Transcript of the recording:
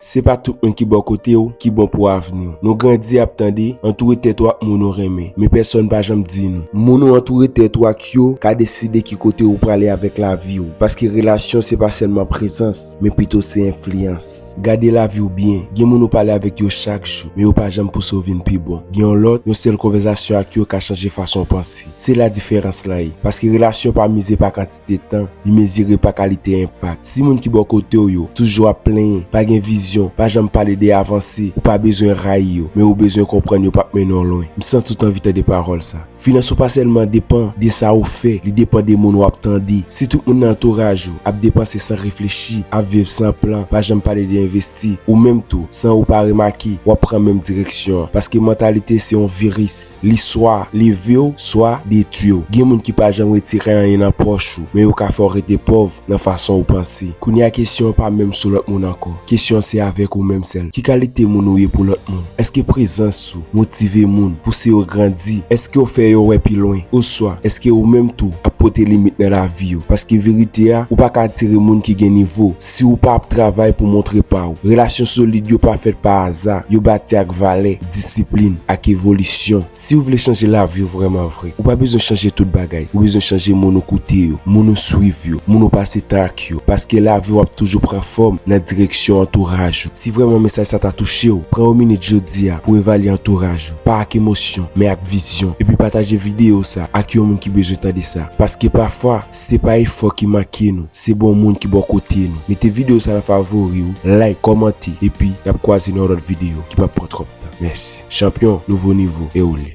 Se pa tout moun ki bò kote w ki bon pou avni w. Nou grandi ap tande, antoure tèt ou ak moun ou renmen, men pèsòn pa janm di nou. Moun ou antoure tèt ou ak yo ka deside ki kote ou prale avèk lavi w, paske relasyon se pa sèlman prezans, men pito se enfliyans. Gade lavi w byen, gen moun ou pale avèk yo chak jou, men yo pa janm pouse w vin pi bon. Gen yon lòt, yon sèl konvèzasyon ak yo ka chanje fason w panse. Se la diferans lan ye, paske relasyon pa mize pa kantite. kantite tan li mezire pa kalite enpak. Si moun ki bò kote w yo toujou ap plenyen, pa gen vizyon, pa janm pale de avanse, ou pa bezwen rayi yo, men ou bezwen konprann yo pap mennen w lwen. M santi w t anvi tande pawòl sa. Finans ou pa sèlman depan de sa ou fè, li depan de moun w ap tande. Si tout moun nan antouraj ou ap depanse san reflechi, ap viv san plan, pa janm pale de envestisman, di ou menm tou san ou pa remake wap pran menm direksyon an paske mantalite se yon viris li swa levew swa detwiw gen moun ki pa janm retire anyen nan pòch ou men yo ka fèw rete pòv nan fason ou panse kounye a kesyon an pa menm sou lòt moun ankò kesyon an se avèk ou menm sèl ki kalite moun ou ye pou lòt moun èske prezans Motive moun, pouse yo grandi. Èske w fè yo wè pi lwen? Oswa, èske ou menm tou ap pote limit nan lavi yo? Paske verite a, ou pa ka atire moun ki gen nivo, si ou pa ap travay pou montre pa ou. Relasyon solid yo pa fèt pa aza, yo bati ak valè, disiplin, ak evolisyon. Si ou vle chanje lavi ou vrèman vre, ou pa bezwen chanje tout bagay, ou bezwen chanje moun ou koute yo, moun ou swiv yo, moun ou pase tan ak yo. yo paske laviw ap toujou pran fòm nan direksyon antouraj ou si vrèman mesaj sa ta touchew pran yon minit jodia pou evalye antouraj ou pa ak emosyon men ak vizyon epi pataje video sa ak yon moun ki bezwen tande sa paske pafwa se pa efò ki manke nou se bon moun ki bò kote nou mete video sa nan favoriw like kòmante epi nap kwaze nan yon lòt video ki pap pran twòp. Mèsi. Chanpyon, nouvo nivo, e ou le.